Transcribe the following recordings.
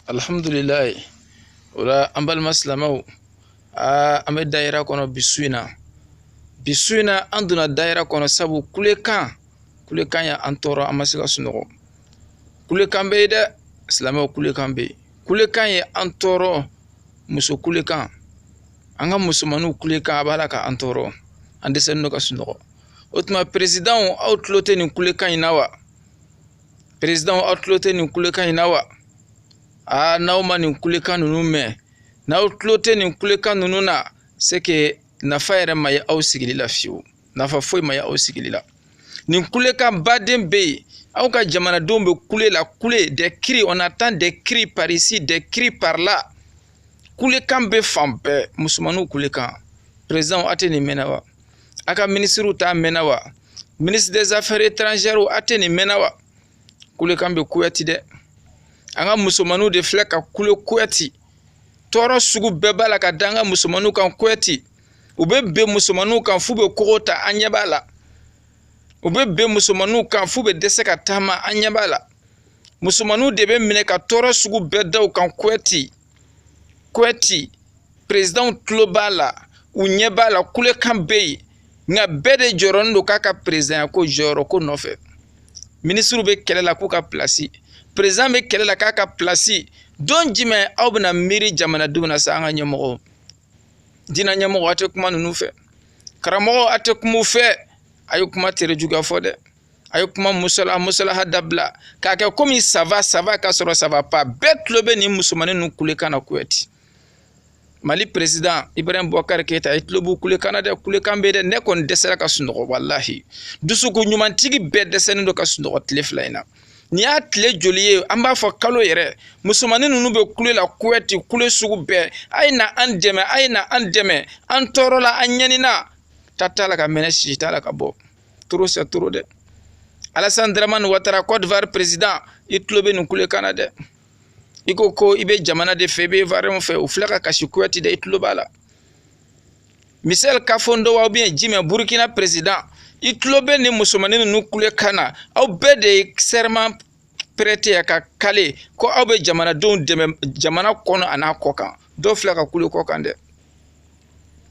alhamdulilayi o la an balima silamɛw aa an bɛ dayira kɔnɔ bi su in na bi su in na an donna dayira kɔnɔ sabu kulekan kulekan ye an tɔɔrɔ an ma se ka sunɔgɔ kulekan bɛ yen dɛ silamɛw kulekan bɛ yen kulekan ye an tɔɔrɔ muso kulekan an ka musomanninw kulekan a b'a la ka an tɔɔrɔ an dɛsɛlen don ka sunɔgɔ o tuma perezidanw aw tulo tɛ nin kulekan in na wa perezidanw aw tulo tɛ nin kulekan in na wa aa n'aw ma nin kulekan ninnu mɛn n'aw tulo tɛ nin kulekan ninnu na c'est que nafa yɛrɛ ma ye aw sigili la fewu nafa foyi ma ye aw sigili la nin kulekanba de bɛ yen aw ka jamanadenw bɛ kule la kule des cris on entend des cris par ici des cris par là kulekan bɛ fan bɛɛ musomanninw kulekan perezidanw aw tɛ nin mɛn na wa a ka minisiriw t'a mɛnna wa ministre des affaires étrangères a tɛ nin mɛnna wa kulekan bɛ kuwɛti dɛ an ka musomanninw de filɛ ka kule kuwɛti tɔɔrɔ sugu bɛɛ b'a la ka da an ka musomanninw kan kuwɛti u bɛ ben musomanninw kan f'u bɛ kogo ta an ɲɛ b'a la u bɛ ben musomanninw kan f'u bɛ dɛsɛ ka taama an ɲɛ b'a la musomanninw de bɛ minɛ ka tɔɔrɔ sugu bɛɛ da u kan kuwɛti Kuwɛti, perezidanw tulo b'a la, u ɲɛ b'a la, kulekan bɛ yen, nka bɛɛ de jɔrɔnen don k'a ka perezidanya ko jɔyɔrɔ ko nɔfɛ. Minisiriw bɛ kɛlɛ la k'u ka pilasi, perezidan bɛ kɛlɛ la k'a ka pilasi, don jumɛn aw bɛna miiri jamanadenw na sa an ka ɲɛmɔgɔw? Diinɛ ɲɛmɔgɔ a tɛ kuma ninnu fɛ, karamɔgɔ a tɛ kuma u fɛ, a ye kuma tere juguya fɔ dɛ. a ye kuma musala musalaha dabila k'a kɛ komi ça va ça va ka sɔrɔ ça va pas bɛɛ tulo bɛ nin musomanin ninnu kulekan na kuwɛti mali peresidan ibrahim bubakari keyita i tulo b'u kulekan na dɛ kulekan bɛ dɛ ne kɔni dɛsɛra ka sunɔgɔ walahi dusuku ɲumantigi bɛɛ dɛsɛlen don ka sunɔgɔ tile fila in na nin y'a tile joli ye an b'a fɔ kalo yɛrɛ musomanin ninnu bɛ kule la kuwɛti kule sugu bɛɛ a ye na an dɛmɛ a ye na an dɛmɛ an tɔɔrɔla an ɲɛnina ta t'a la ka mɛnɛ si t'a la ka bɔ trop c'est trop dɛ alasan dramani watara côte d'ivoire président i tulo bɛ nin kulekan na dɛ i ko ko i bɛ jamana de fɛ i bɛ ivoirienw fɛ u filɛ ka kasi kuwɛti dɛ i tulo b'a la misɛli kafando wa ou bien jumɛn burukina président i tulo bɛ nin musomanin ninnu kulekan na aw bɛɛ de ye serment prêter ka kale ko aw bɛ jamanadenw dɛmɛ jamana kɔnɔ an'a kɔkan dɔw filɛ ka kule kɔkan dɛ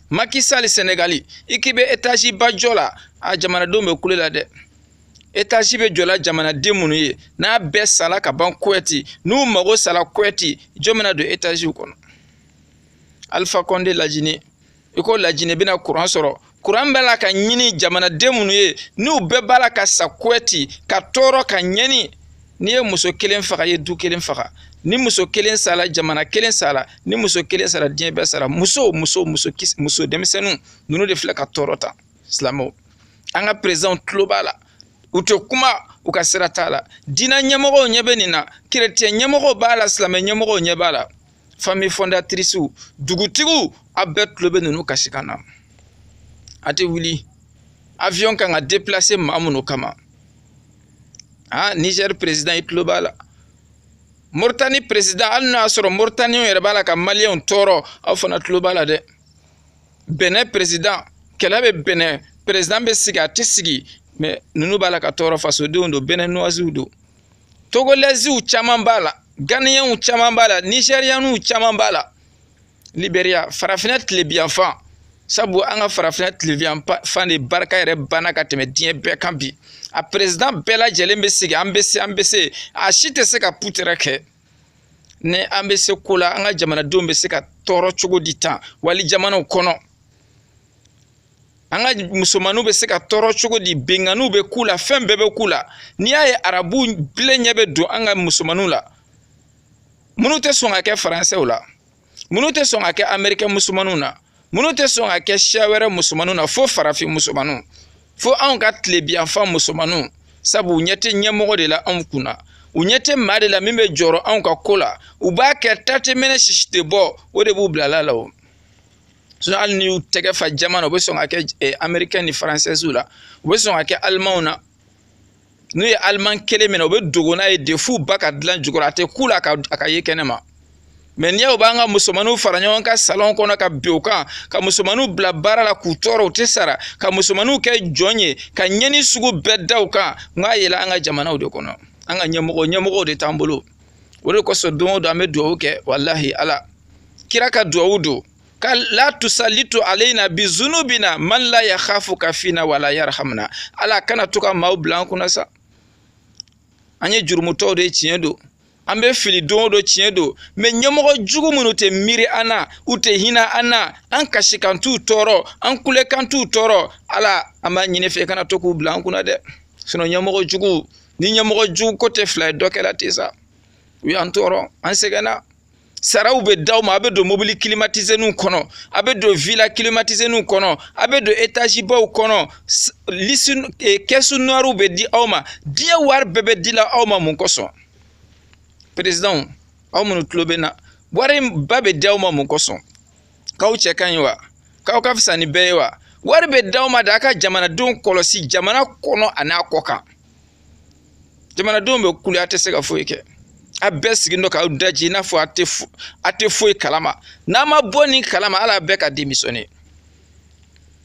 Macky Sall Senegali i k'i bɛ etaziba jɔ la a jamanadenw bɛ kule la dɛ etazi bɛ jɔla jamanaden minnu ye n'a bɛɛ sala ka ban Kuwɛti n'u mago sala Kuwɛti jɔn bɛna don etaziw kɔnɔ Alpha Condé lajini i ko lajinɛ bɛna kuran sɔrɔ kuran bɛ la ka ɲini jamanaden minnu ye n'u bɛɛ b'a la ka sa kuɛti ka tɔɔrɔ ka ɲɛni n'i ye muso kelen faga i ye du kelen faga ni muso kelen sara jamana kelen sara ni muso kelen sara diɲɛ bɛɛ sara muso muso muso kisi muso denmisɛnninw ninnu de filɛ ka tɔɔrɔ tan silamɛw an ka perezidanw tulo b'a la u tɛ kuma u ka sira t'a la diinɛ ɲɛmɔgɔw ɲɛ bɛ nin na kerecɛn ɲɛmɔgɔw b'a la silamɛ ɲɛmɔgɔw ɲɛ b'a la famille fondatrice dugutigiw a bɛɛ tulo bɛ ninnu kasikan na a tɛ wuli avion kan ka déplacer maa minnu kama ah Niger président i tulo b'a la Mauritanie président hali n'a y'a sɔrɔ Mauritaniens yɛrɛ b'a la ka Maliens tɔɔrɔ aw fana tulo b'a la dɛ Benin président kɛlɛ bɛ Benin président bɛ sigi a tɛ sigi mais ninnu b'a la ka tɔɔrɔ fasodenw don Beninoisew don togolɛziw caman b'a la ganiyɛnw caman b'a la nizɛriyɛnw caman b'a la liberiya farafinna tilebiyanfan sabu an ka farafinna tilebiyanfan de barika yɛrɛ banna ka tɛmɛ diɲɛ bɛɛ kan bi a perezidan bɛɛ lajɛlen bɛ sigi an bɛ se an bɛ se a si tɛ se ka putɛrɛ kɛ ni an bɛ se ko la an ka jamanadenw bɛ se ka tɔɔrɔ cogo di tan wali jamanaw kɔnɔ an ka musomanninw bɛ se ka tɔɔrɔ cogo di binkanniw bɛ k'u la fɛn bɛɛ bɛ k'u la n'i y'a ye arabu bilen ɲɛ bɛ don an ka musomanninw la minnu tɛ sɔn ka kɛ faransɛw la minnu tɛ sɔn ka kɛ amerikɛn musomanninw na minnu tɛ sɔn ka kɛ siya wɛrɛ musomanninw na fo farafin musomanninw fo anw ka tilebiyanfan musomanninw sabu u ɲɛ tɛ ɲɛmɔgɔ de la anw kun na u ɲɛ tɛ maa de la min bɛ jɔrɔ anw ka ko la u b'a kɛ ta tɛ mɛnɛ sisi tɛ bɔ o de b'u bilala la o sinɔn hali n'i y'u tɛgɛ fa jaman na u bɛ sɔn ka kɛ eh, amerikɛn ni faransɛsiw la u bɛ sɔn ka kɛ alimanw na n'u ye aliman kelen minɛ u bɛ dogo n'a ye de f'u ba ka dilan jukɔrɔ a tɛ k'u la a ka ye kɛnɛ ma mɛ n'i y'a y'u b'an ka musomaninw fara ɲɔgɔn kan salɔn kɔnɔ ka bin u kan ka musomaninw bila baara la k'u tɔɔrɔ u tɛ sara ka musomaninw kɛ jɔn ye ka ɲɛni sugu bɛɛ da u kan n k'a yɛlɛ an ka jamanaw de kɔnɔ an ka ɲɛmɔgɔ ɲɛmɔgɔw de t'an bolo o de kosɔn don o don an bɛ dugawu kɛ walahi ala kira ka dugawu don ka la tusalitu alayna bi zunubina man la yakhafuka fina wala yarhamuna ala kana to ka maaw bila an kunna sa an ye jurumutɔw de tiɲɛ don an bɛ fili don o don tiɲɛ don mɛ ɲɛmɔgɔ jugu minnu tɛ miiri an na u tɛ hinɛ an na an kasikan t'u tɔɔrɔ an kulekan t'u tɔɔrɔ ala an b'a ɲini i fɛ kana to k'u bila an kunna dɛ sinɔn ɲɛmɔgɔ jugu ni ɲɛmɔgɔ jugu ko tɛ fila ye dɔ kɛra ten sa u y'an tɔɔrɔ an sɛgɛnna saraw bɛ d'aw ma a bɛ don mobili kilimatizeniw kɔnɔ a bɛ don vila kilimatizeniw kɔnɔ a bɛ don etazibaw kɔnɔ lisi eh, kɛsu nuwariw bɛ di aw ma diɲɛ wari bɛɛ bɛ dila aw ma mun kosɔn perezidanw aw minnu tulo bɛ n na wari ba bɛ di aw ma mun kosɔn k'aw cɛ ka ɲi wa k'aw ka fisa ni bɛɛ ye wa wari bɛ d'aw ma de a ka jamanadenw kɔlɔsi jamana kɔnɔ ani a kɔ kan jamanadenw bɛ kule a tɛ se ka foyi kɛ a bɛɛ sigilen don k'aw daje i n'a fɔ a tɛ a tɛ foyi kalama n'a ma bɔ nin kalama ala bɛɛ ka denmisɛnnin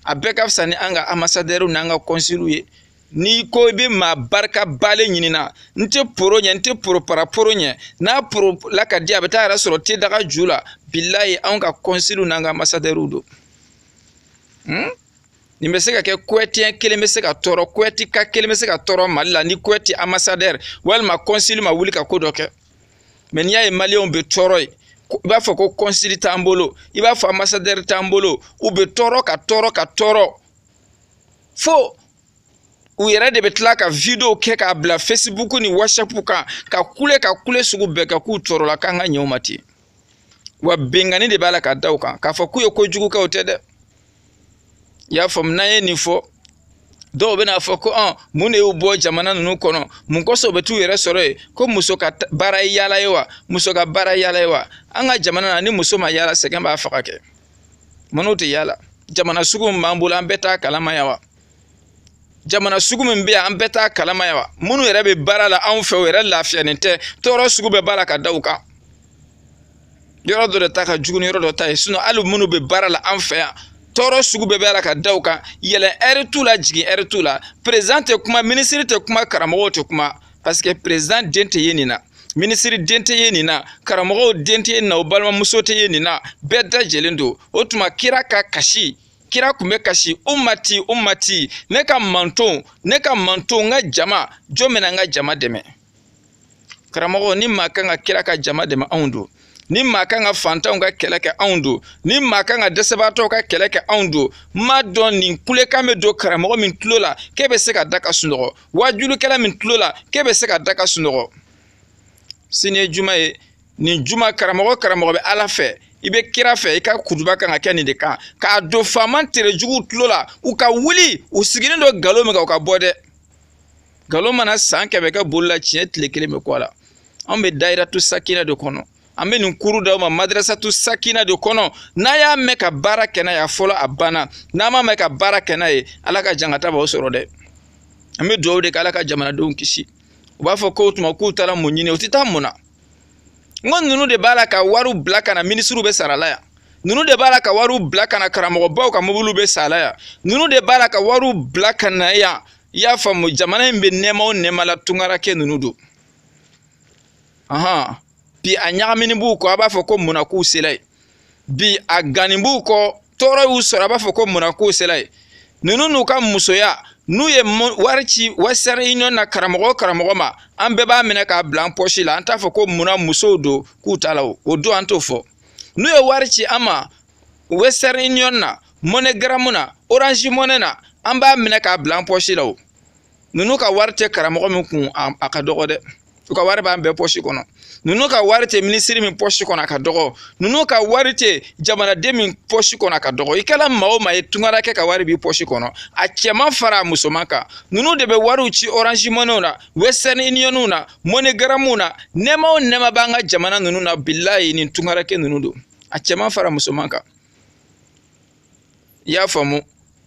a bɛɛ ka fisa ni an ka amasadɛriw n'an ka kɔnsiliw ye n'i ko i bɛ maa barikabalen ɲinina n tɛ poro ɲɛ n tɛ poropara poro ɲɛ n'a poro la ka di a bɛ t'a yɛrɛ sɔrɔ te daga ju la bilayi anw ka kɔnsiliw n'an ka amasadɛriw don hmm? nin bɛ se ka kɛ kuwɛtiyɛn kelen bɛ se ka tɔɔrɔ kuwɛtika kelen bɛ se ka tɔɔrɔ mali la ni kuwɛti amasadɛri walima kɔnsili ma wuli ka ko dɔ kɛ mɛ n'i y'a ye maliyɛnw bɛ tɔɔrɔ yen i b'a fɔ ko kɔnsili t'an bolo i b'a fɔ amasadɛri t'an bolo u bɛ tɔɔrɔ ka tɔɔrɔ ka tɔɔrɔ fo u yɛrɛ de bɛ tila ka video kɛ k'a bila facebook ni whatsapp kan ka kule ka kule sugu bɛɛ kɛ k'u tɔɔrɔla k'an ka ɲɛ u ma ten wa binkanni de b'a la ka da u kan k'a fɔ k'u ye ko jugu kɛ o tɛ dɛ i y'a faamu n'an ye nin fɔ dɔw bɛna fɔ ko ɔn mun de y'u bɔ jamana ninnu kɔnɔ mun kosɔn u bɛ t'u yɛrɛ sɔrɔ yen ko muso ka baara ye yaala ye wa muso ka baara yaala ye wa an ka jamana na ni muso ma yaala sɛgɛn b'a faga kɛ Mun na u tɛ yaala jamana sugu min b'an bolo an bɛɛ t'a kalama yan wa jamana sugu min bɛ yan an bɛɛ t'a kalama yan wa minnu yɛrɛ bɛ baara la anw fɛ o yɛrɛ lafiyalen tɛ tɔɔrɔ sugu bɛɛ b'a la ka da u kan yɔrɔ dɔ de ta ka jugu ni yɔrɔ dɔ ta ye sinɔn hali minnu bɛ baara la an fɛ yan tɔɔrɔ sugu bɛɛ b'a la ka da u kan yɛlɛ ɛri t'u la jigin ɛri t'u la perezidan tɛ kuma minisiri tɛ kuma karamɔgɔw tɛ kuma paseke perezidan den tɛ ye nin na minisiri den tɛ ye nin na karamɔgɔw den tɛ ye nin na o balimamuso tɛ ye nin na bɛɛ dajelen don o tuma kira ka kasi kira tun bɛ kasi umati umati ne ka mantɔn ne ka mantɔn n ka jama jɔn bɛna n ka jama dɛmɛ karamɔgɔ ni maa kan ka kira ka jama dɛmɛ anw don ni maa kan ka fantanw ka kɛlɛ kɛ anw don ni maa kan ka dɛsɛbaatɔw ka kɛlɛ kɛ anw don n m'a dɔn nin kulekan bɛ don karamɔgɔ min tulo la k'e bɛ se ka da ka sunɔgɔ wajulikɛla min tulo la k'e bɛ se ka da ka sunɔgɔ sini ye juma ye nin juma karamɔgɔ karamɔgɔ bɛ ala fɛ i bɛ kira fɛ i ka kutuba kan ka kɛ nin de kan k'a don faama tere juguw tulo la u ka wuli u sigilen don nkalon min kan u ka bɔ dɛ nkalon mana san kɛmɛ kɛ boli la tiɲɛ tile kelen bɛ kun a la anw bɛ dayiratu sakina de kɔnɔ an bɛ nin kuru d'aw ma madrasatu sakina de kɔnɔ n'a y'a mɛn ka baara kɛ n'a ye a fɔlɔ a banna n'a ma mɛn ka baara kɛ n'a ye ala ka jankata b'aw sɔrɔ dɛ an bɛ dugawu de kɛ ala ka jamanadenw kisi u b'a fɔ k'o tuma k'u taara mun ɲini u tɛ taa mun na n ko ninnu de b'a la ka wariw bila ka na minisiriw bɛ sara la yan ninnu de b'a la ka wariw bila ka na karamɔgɔbaw ka mobiliw bɛ san a la yan ninnu de b'a la ka wariw bila ka na yan i y'a faamu jamana in bɛ nɛɛma o nɛɛma la tunkarankɛ ninnu don ɔhɔn bi a ɲagamini b'u kɔ a b'a fɔ ko munna k'u sela yen bi a ganni b'u kɔ tɔɔrɔ y'u sɔrɔ a b'a fɔ ko munna k'u sela yen ninnu n'u ka musoya n'u ye wari ci western union na karamɔgɔ o karamɔgɔ ma an bɛɛ b'a minɛ k'a bila an pɔsi la an t'a fɔ ko munna musow don k'u taala o don an t'o fɔ n'u ye wari ci an ma western union na moneygram na orange money na an b'a minɛ k'a bila an pɔsi la o ninnu ka wari tɛ karamɔgɔ min kun a ka dɔgɔ dɛ u ka wari b'an bɛɛ pɔsi kɔnɔ ninnu ka wari tɛ minisiri min pɔsi kɔnɔ a ka dɔgɔ ninnu ka wari tɛ jamanaden min pɔsi kɔnɔ a ka dɔgɔ i kɛra maa o maa ye tungarakɛ ka wari b'i pɔsi kɔnɔ a cɛman fara a musoman kan ninnu de bɛ wariw ci orange moneyw na western unionw na moneygramuw na nɛɛma o nɛɛma b'an ka jamana ninnu na bilayi nin tungarakɛ ninnu don a cɛman fara musoman kan i y'a faamu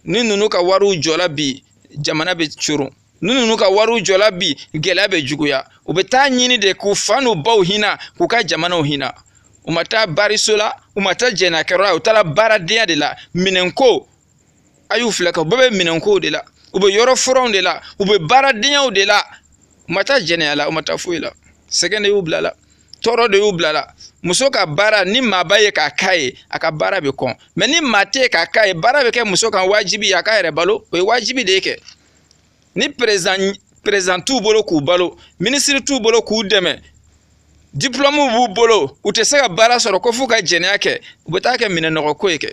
ni ninnu ka wariw jɔra bi jamana bɛ coron ni ninnu ka wariw jɔra bi gɛlɛya bɛ juguya u bɛ t'a ɲini de k'u fa n'u baw hinɛ k'u ka jamanaw hinɛ u ma taa bariso la u ma taa jɛnɛyakɛyɔrɔ la u taara baaradenya de la minɛnko a y'u filɛ ka u bɛɛ bɛ minɛnkow de la u bɛ yɔrɔfuranw de la u bɛ baaradenyaw de la u ma taa jɛnɛya la u ma taa foyi la sɛgɛn de y'u bil'a la tɔɔrɔ de y'u bil'a la muso ka baara ni maa bɛ yen k'a k'a ye a ka baara bɛ kɔn mɛ ni maa tɛ yen k'a k'a ye baara bɛ kɛ muso kan wajibi ye a k'a yɛrɛ balo o ye wajibi de ye kɛ ni perezidan t'u bolo k'u balo minisiri t'u bolo k'u dɛmɛ diplɔmuw b'u bolo u tɛ se ka baara sɔrɔ ko f'u ka jɛnɛya kɛ u bɛ taa kɛ minɛnɔgɔko ye kɛ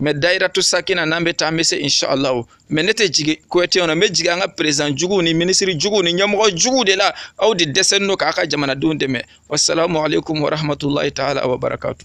mɛ dayiratu sakina n'an bɛ taa an bɛ se inshallahu mɛ ne tɛ jigin kowɛtiw na n bɛ jigin an ka perezidan juguw ni minisiri juguw ni ɲɛmɔgɔ juguw de la aw de dɛsɛlen don k'a ka jamanadenw dɛmɛ wasalamu aleykum warahmatulahi taala wabarakatu